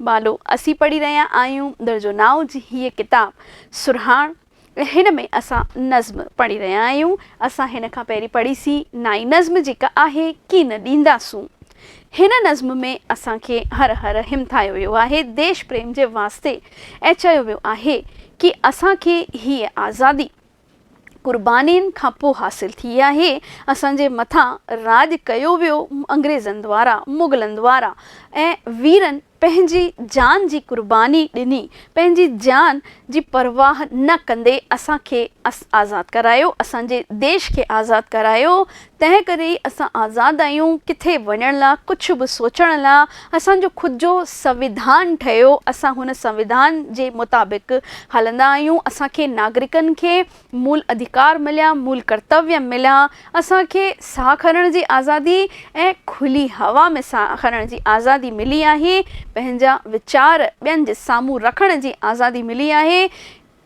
بالو، اسين پڙهي رهيا آهيون درجو نائون جي هيء ڪتاب سرهاڻ ۽ هن ۾ اسان نظم پڙهي رهيا آهيون. اسان هن کان پهرين پڙهي سين نائين نظم جيڪا آهي ڪي نه ڏينداسون. هن نظم ۾ اسان کي هر هر همٿايو ويو آهي ديش پريم جي واسطي ۽ چيو ويو آهي ڪي اسان کي هيء آزادي، قربانين کان پوء حاصل ٿي آهي، اسان جي مٿان راڄ ڪيو ويو انگريزن دوارا، مغلن دوارا ۽ ويرن پنهنجي جان جي قرباني ڏني، پنهنجي جان جي پرواهه نه ڪندي اسان کي آزاد ڪرايو، اسان جي ديش کي آزاد ڪرايو، تنهن ڪري اسان آزاد آهيون، ڪٿي وڃڻ لا، ڪجهه به سوچڻ لا، اسان جو خود جو سنوڌان ٺهيو، اسان هن سنوڌان جي مطابق هلندا آهيون، اسان کي ناگرڪن کي مول اڌيڪار مليا، مول ڪرتويه مليا، اسان کي ساهه کڻڻ جي آزادي ۽ کلي هوا ۾ ساهه کڻڻ جي آزادي ملي آهي، پنهنجا ويچار ٻين جي سامهون رکڻ جي آزادي ملي آهي،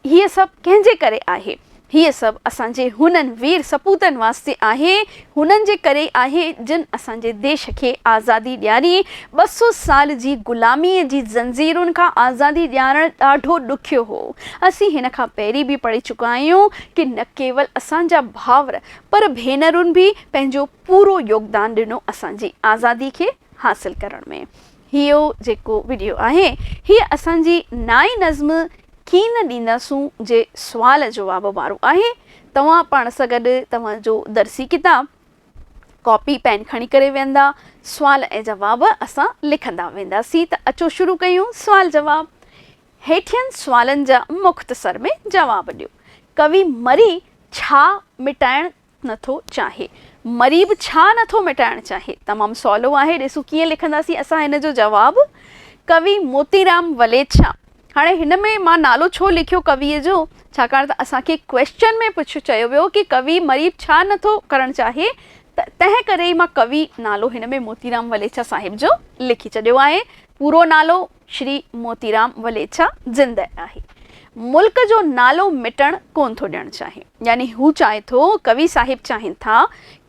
هيء سڀ ڪنهن جي ڪري آهي؟ هيء سڀ اسان جي هنن وير سپوتن واسطي آهي، هنن جي ڪري ئي آهي، جن اسان جي ديش کي آزادي ڏياري، ٻه سؤ سال جي غلاميء جي زنجيرن کان آزادي ڏيارڻ ڏاڍو ڏکيو هو. اسين هن کان پهرين به پڙهي چڪا آهيون ڪي نه ڪيول اسان جا ڀائر پر ڀينرن به پنهنجو پورو يوگدان ڏنو اسان جي آزادي کي حاصل ڪرڻ ۾. هيء جيڪو وڊيو آهي، هيء اسان جي نائين نظم ڪين ڏينداسون جي سوال جواب وارو آهي. توهان پاڻ سان گڏ توهان جو درسي ڪتاب، ڪاپي پين کڻي ڪري ويهندا، سوال ۽ جواب اسان لکندا وينداسين ته اچو شروع ڪيون سوال جواب. هيٺين سوالن جا مختصر ۾ جواب ڏيو. ڪوي مري ڇا مٽائڻ نٿو چاهي. مريب ڇا نٿو مٽائڻ چاهي؟ تمام سولو آهي ڏسون ڪيئن لکنداسين اسان هن جو جواب. ڪوي موتيرام وليڇا. هاڻي هن ۾ مان نالو ڇو لکيو ڪويء جو؟ ڇاڪاڻ ته اسان کي ڪويشچن ۾ پڇ چيو ويو ڪي ڪوي مريب ڇا نٿو ڪرڻ چاهي ته تنهن ڪري ئي مان ڪوي نالو هن ۾ موتيرام وليڇا صاحب جو لکي ڇڏيو آهي. پورو نالو. شري موتيرام وليڇا زنده آهي ملڪ جو نالو مٽڻ ڪون ٿو ڏيڻ چاهي يعني هو چاهي ٿو ڪوي صاحب چاهين ٿا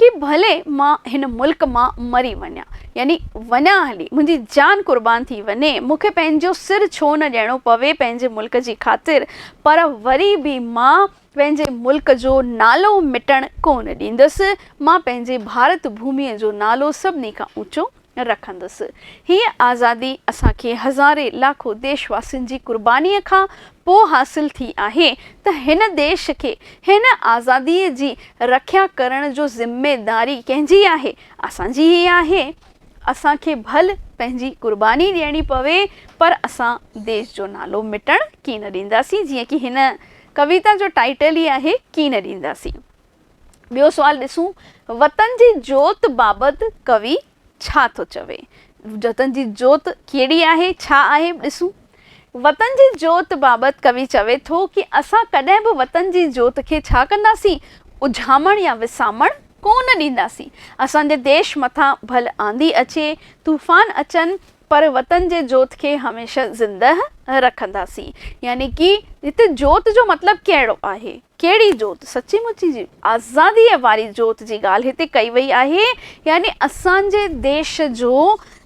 ڪي ڀلي مان هن ملڪ مان مري وڃان يعني وڃان هلي منهنجي جان قربان ٿي وڃي مون کي پنهنجو سر ڇو نه ڏيڻو پوي پنهنجي ملڪ جي خاطر پر وري به مان پنهنجي ملڪ جو نالو مٽڻ ڪون ڏيندس مان پنهنجي ڀارت ڀومي جو نالو سڀني کان اوچو رکندس. هيء آزادي اسان کي هزارين لاکو ديش واسين جي قربانيء کان پوء حاصل ٿي آهي ته هن ديش کي هن آزاديء جي رکيا ڪرڻ جو ذميداري ڪنهن جي آهي؟ اسان جي ئي آهي. اسان کي ڀل پنهنجي قرباني ڏيڻي پوي پر اسان ديش جو نالو مٽڻ ڪين ڏينداسين جيئن ڪي هن ڪويتا جو ٽائيٽل ئي آهي ڪين ڏينداسين. ٻيو سوال ڏسون، وطن جي جوت بابت ڪوي ڇا ٿو چوي؟ وطن جي جوت ڪهڙي آهي، ڇا آهي؟ ڏسون، وطن جي جوت بابت ڪوي چوي ٿو ڪي اسان ڪڏهن به وطن جي جوت کي ڇا ڪنداسين؟ اجهامڻ يا وسامڻ ڪونه ڏينداسين. اسان جي ديش مٿان ڀل آنڌي اچي، طوفان اچن، پر وطن جي جوت کي هميشه زندهه رکنداسين. يعني ڪي هتي جوت جو مطلب ڪهڙو آهي؟ ڪهڙي جوت؟ سچي مچي جي آزاديء واري جوت جي ڳالهه هتي ڪئي وئي آهي. يعني اسان جي ديش جو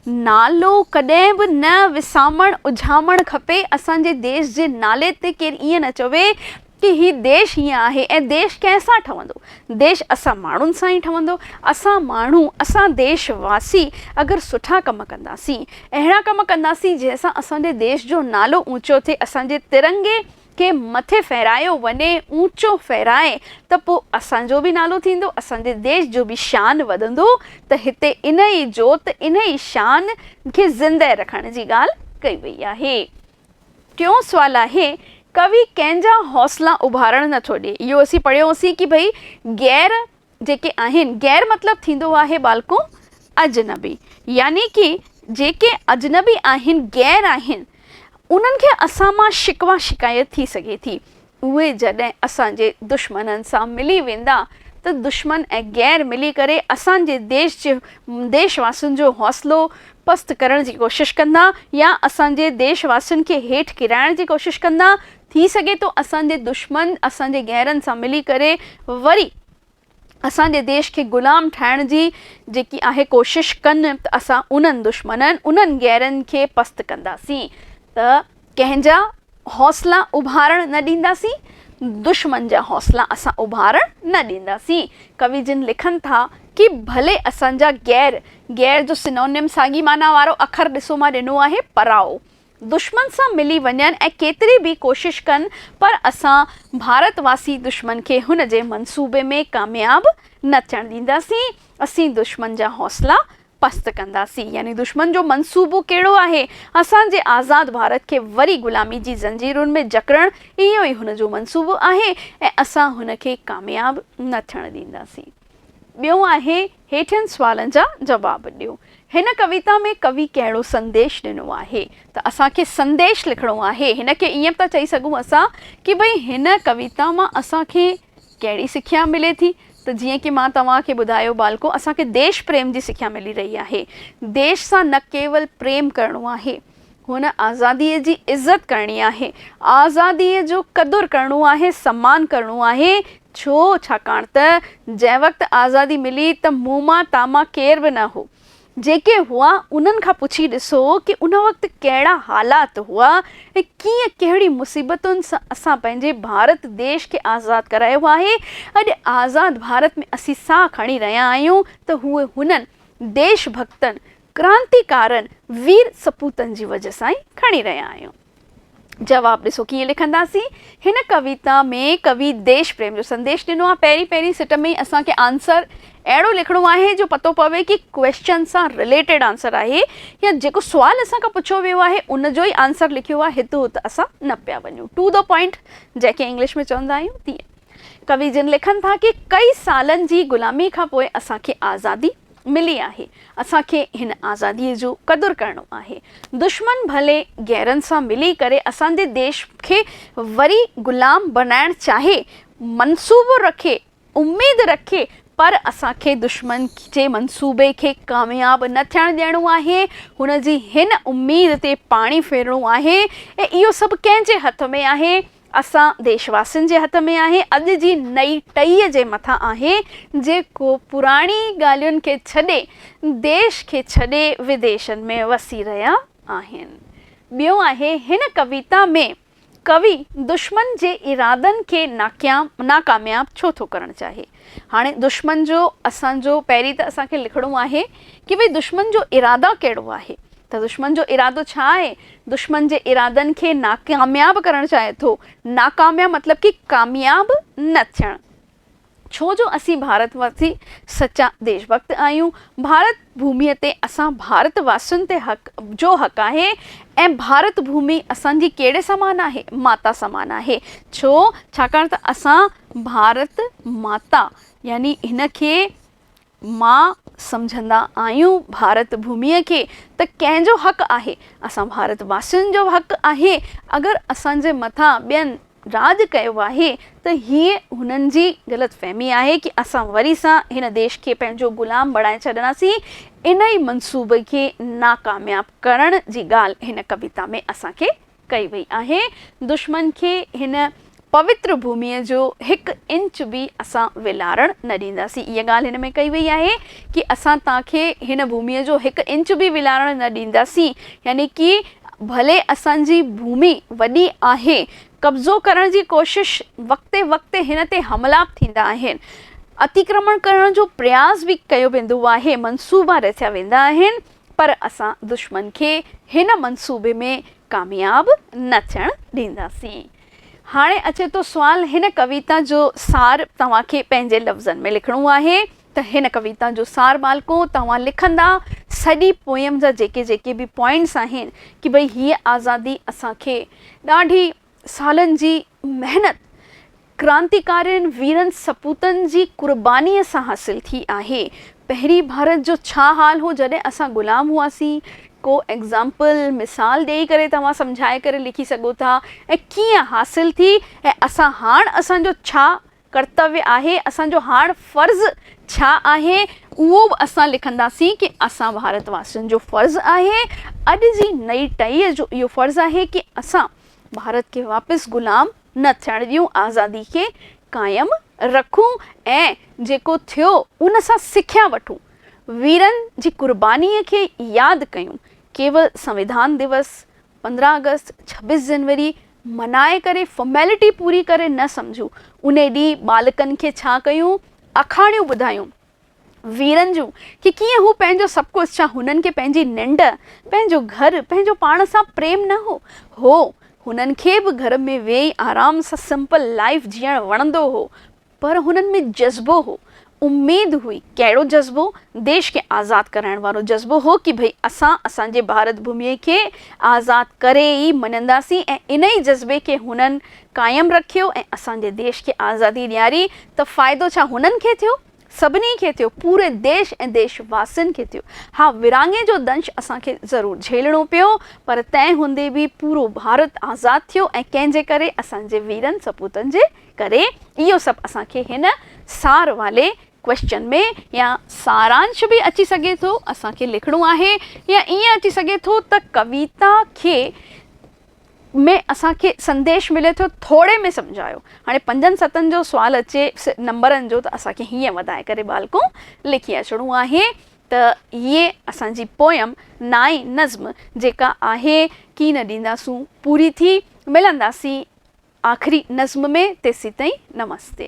نالو ڪڏهن به نه وسامڻ اجهامڻ کپي. اسان جي ديش جي نالي تي ڪير ائين نه چوي ڪي هي ديش هيئن آهي ۽ ديش ڪنهن سان ٺهندو؟ ديش اسان ماڻهن سان ئي ٺهندو. اسان ماڻهو، اسان ديش واسي اگر سٺا ڪم ڪنداسين، اهڙا ڪم ڪنداسين جنهن سان اسان جي ديش جو نالو اونچو ٿئي، اسان جي ترنگي کي مٿي ڦيرايو وڃي، اونچو ڦيرائي ته پوء اسان جو به نالو ٿيندو، اسان جي ديش جو به شان وڌندو ته هتي انهي جوت، انهي شان کي زندهه رکڻ جي ڳالهه ڪئي وئي آهي. ٽيون سوال آهي، ڪوي ڪنهن جا حوصلا اڀارڻ نه ٿو ڏئي. اهو اسين پڙهيو هوسين ڪي ڀئي غير جيڪي آهن، غير مطلب ٿيندو آهي ٻالڪو اجنبي. يعني ڪي جيڪي اجنبي آهن، غير آهن، انهن کي اسان مان شڪوه شڪايت ٿي سگهي ٿي. اهي جڏهن اسان جي دشمنن سان ملي ويندا ته دشمن ۽ غير ملي ڪري اسان جي ديش جي ديش واسين جو حوصلو پست ڪرڻ جي ڪوشش ڪندا يا اسان جي ديش واسين کي هيٺ ڪرائڻ جي ڪوشش ڪندا ٿي سگهي ٿو اسان جي دشمن اسان جي غيرن سان ملي ڪري وري اسان جي ديش کي غلام ٺاهڻ جي جيڪي اهي ڪوشش ڪن ته اسان انهن دشمنن، انهن غيرن کي پست ڪنداسين ته ڪنهن جا حوصلا اڀارڻ نه ڏينداسين، دشمن جا حوصلا اسان اڀارڻ نه ڏينداسين. ڪوي جن لکن ٿا ڪي ڀلي اسان جا غير، غير جو سينونيم ساڳي معنيٰ وارو اکر ڏسو مان ڏنو آهي، پرائو. دشمن سان ملي وڃن ۽ ڪيتري به ڪوشش ڪن پر اسان ڀارت واسي دشمن کي هن جي منصوبي ۾ ڪامياب نه ٿيڻ ڏينداسين اسين دشمن جا حوصلا پست ڪنداسين يعني دشمن جو منصوبو ڪهڙو آهي اسان جي آزاد ڀارت کي وري غلامي جي زنجيرن ۾ جڪڙڻ اهو ئي هن جو منصوبو آهي ۽ اسان هن کي ڪامياب نه ٿيڻ ڏينداسين ٻيو آهي هيٺين سوالن جا جواب ڏيو. هن ڪويتا ۾ ڪوي ڪهڙو سنديش ڏنو آهي؟ ته اسان کي سنديش لکڻو آهي. هن کي ائين به ٿا چئي سگهون اسان ڪي ڀئي هن ڪويتا مان اسان کي ڪهڙي سکيا ملي ٿي؟ ته جيئن ڪي مان توهان کي ٻڌايو ٻالڪو اسان کي ديش پريم جي سکيا ملي رهي آهي. ديش سان نه ڪيول پريم ڪرڻو آهي. هن آزاديء جي عزت ڪرڻي آهي، آزاديء جو قدر ڪرڻو آهي، سمان ڪرڻو آهي. ڇو؟ ڇاڪاڻ ته جنهن وقت آزادي ملي ته مون مان تان مان ڪير به نه هو. جيڪي هئا انهن کان پڇي ڏسو ڪي ان وقت ڪهڙا حالات هئا ۽ ڪيئن ڪهڙي مصيبتن سان اسان پنهنجي ڀارت ديش کي آزاد ڪرايو آهي. اڄ آزاد ڀارت ۾ اسين ساهه کڻي رهيا آهيون ته هو هنن ديش ڀڳتن ڪرانتيڪارن وير سپوتن جي وجهه سان ئي کڻي رهيا آهيون. جواب ڏسو ڪيئن لکنداسين. هن ڪويتا ۾ ڪوي ديش پريم جو سنديش ڏنو آهي. پهرين پهرين سٽ ۾ ئي اسان کي آنسر اهڙو لکڻو آهي جو پتو پوي ڪي ڪويسچن سان رليٽيڊ آنسر آهي يا جيڪو سوال اسان کان پڇيو ويو آهي ان جو ئي آنسر لکيو آهي هت هت اسان نه پيا وڃون ٽو دو پوائنٽ جنهن کي انگلش ۾ چوندا آهيون تيئن ڪوي جن لکن ٿا ڪي ڪئي سالن جي غلامي کان پوء اسان کي آزادي ملي آهي، اسان کي هن آزاديء جو قدر ڪرڻو آهي. دشمن ڀلي غيرن سان ملي ڪري اسان جي ديش کي وري غلام بڻائڻ چاهي، منصوبو رکي، اميد رکي، پر اسان کي دشمن جي منصوبي کي ڪامياب نه ٿيڻ ڏيڻو آهي، هن جي هن اميد تي پاڻي ڦرڻو آهي ۽ اهو سڀ ڪنهن جي هٿ ۾ آهي؟ اسان ديش واسين جي هٿ ۾ آهي، اڄ جي نئي ٽهيء جي مٿان آهي، جيڪو پراڻي ڳالهين کي ڇڏي، ديش کي ڇڏي وديشن ۾ وسي رهيا آهن. ٻيو آهي هن ڪويتا ۾ ڪوي دشمن جي ارادن کي ناڪامياب ڇو ٿو ڪرڻ چاهي؟ هاڻي دشمن جو اسان جو پهرين ته اسان کي لکڻو آهي ڪي ڀئي دشمن جو اراده ڪهڙو آهي ته دشمن جو ارادو ڇا آهي دشمن جي ارادن کي ناڪامياب ڪرڻ چاهي ٿو ناڪامياب مطلب ڪي ڪامياب نه ٿيڻ ڇو جو اسين ڀارت واسي سچا ديش ڀڪت آهيون ڀارت ڀومي تي اسان ڀارت واسين تي حق جو حق آهي ۽ ڀارت ڀومي اسان جي ڪهڙي سمان آهي؟ ماتا سمان آهي. ڇو؟ ڇاڪاڻ ته اسان ڀارت ماتا يعني هن کي ماء سمجهندا آهيون ڀارت ڀومي کي ته ڪنهن جو حق آهي؟ اسان ڀارت واسين جو حق آهي اگر اسان جي مٿان ٻين راڄ ڪيو آهي ته هيء هنن جي غلط فهمي آهي ڪي اسان وري سان هن ديش کي پنهنجو غلام بڻائي ڇڏنداسين انهي منصوبي کي ناڪامياب ڪرڻ جي ڳالهه هن ڪويتا ۾ اسان کي ڪئي وئي آهي دشمن کي هن پوتر ڀومي جو هڪ انچ به اسان ولارڻ نه ڏينداسين اها ڳالهه هن ۾ ڪئي وئي آهي ڪي اسان توهان کي هن ڀومي جو هڪ انچ به ولارڻ نه ڏينداسين يعني ڪي ڀلي اسان جي ڀومي وڏي آهي، قبضو ڪرڻ جي ڪوشش وقتي وقتي هن تي حملا به ٿيندا آهن، اتيڪرمڻ ڪرڻ جو پرياس به ڪيو ويندو آهي، منصوبا رٿيا ويندا آهن، پر اسان دشمن کي هن منصوبي ۾ ڪامياب نه ٿيڻ ڏينداسين. هاڻي اچي ٿو سوال هن ڪويتا جو سار توهان کي پنهنجي لفظن ۾ لکڻو آهي. ته هن ڪويتا جو سار ٻالڪو توهان لکندا سڄي پوئيم جا جيڪي جيڪي به پوائنٽس آهن ڪي ڀئي هيء آزادي اسان کي ڏاڍي سالن جي محنت ڪرانتيڪارين ويرن سپوتن جي قرباني سان حاصل ٿي آهي پهرين ڀارت جو ڇا حال هو جڏهن اسان غلام هئاسين ڪو ايگزامپل مثال ڏيئي ڪري توهان سمجهائي ڪري لکي سگهو ٿا ۽ ڪيئن حاصل ٿي ۽ اسان هاڻ اسان جو ڇا ڪرتويه آهي، اسان جو هاڻ فرض ڇا آهي، اهو به اسان لکنداسين ڪي اسان ڀارت واسين جو فرض آهي، اڄ جي نئي ٽهيء جو اهو فرض آهي ڪي اسان ڀارت کي واپس غلام نه ٿيڻ ڏيون، آزادي کي قائم رکون ۽ جيڪو ٿيو ان سان سکيا وٺون، ويرن جي قربانيء کي ياد ڪيون، ڪيول سنوڌان ديوس پندرهن آگسٽ، ڇبيس جنوري منائي ڪري فارميلٽي پوري ڪري نه سمجهون، انهي ڏينهن ٻالڪن کي ڇا ڪيون آکاڻيون ٻڌايون ويرن جون ڪي ڪيئن هو پنهنجو سڀ ڪجهه ڇا هنن کي پنهنجي ننڊ، پنهنجو گهر، پنهنجو پاڻ سان پريم نه هو؟ هو، هنن کي به گهر ۾ ويهي آرام سان سمپل لائيف جيئڻ وڻندو هو پر هنن ۾ جذبو هو، اميد هئي، ڪهڙو جذبو؟ ديش کي آزاد ڪرائڻ وارو جذبو هو ڪي ڀئي اسان اسان جي ڀارت ڀوميء کي آزاد ڪري ئي مڃنداسين ۽ انهي جذبي کي هنن قائم رکيو ۽ اسان جي ديش کي آزادي ڏياري ته فائدو ڇا هنن کي ٿيو؟ سڀني کي ٿيو، پوري ديش ۽ ديش واسين کي ٿيو. ها ورهاڱي جو دنش اسان کي ضرور جهيلڻو پيو پر تنهن هوندي به پورو ڀارت آزاد ٿيو ۽ ڪنهن جي ڪري؟ اسان جي ويرن سپوتن جي ڪري اهو سڀ اسان کي هن سار والي ڪويسچن ۾ يا سارانش به اچي سگهي ٿو اسان کي لکڻو آهي يا ائين اچي سگهي ٿو ته ڪويتا کي ۾ اسان کي سنديش ملي ٿو ٿوري ۾ سمجهايو هاڻي پنجن ستن جو سوال اچي نمبرن جو ته اسان کي هيئن وڌائي ڪري ٻالڪو لکي اچڻو آهي ته اهي اسان جي پوئم نائين نظم جيڪا آهي ڪين ڏينداسون پوري ٿي، ملنداسين آخري نظم ۾ تيسيتائين نمستي.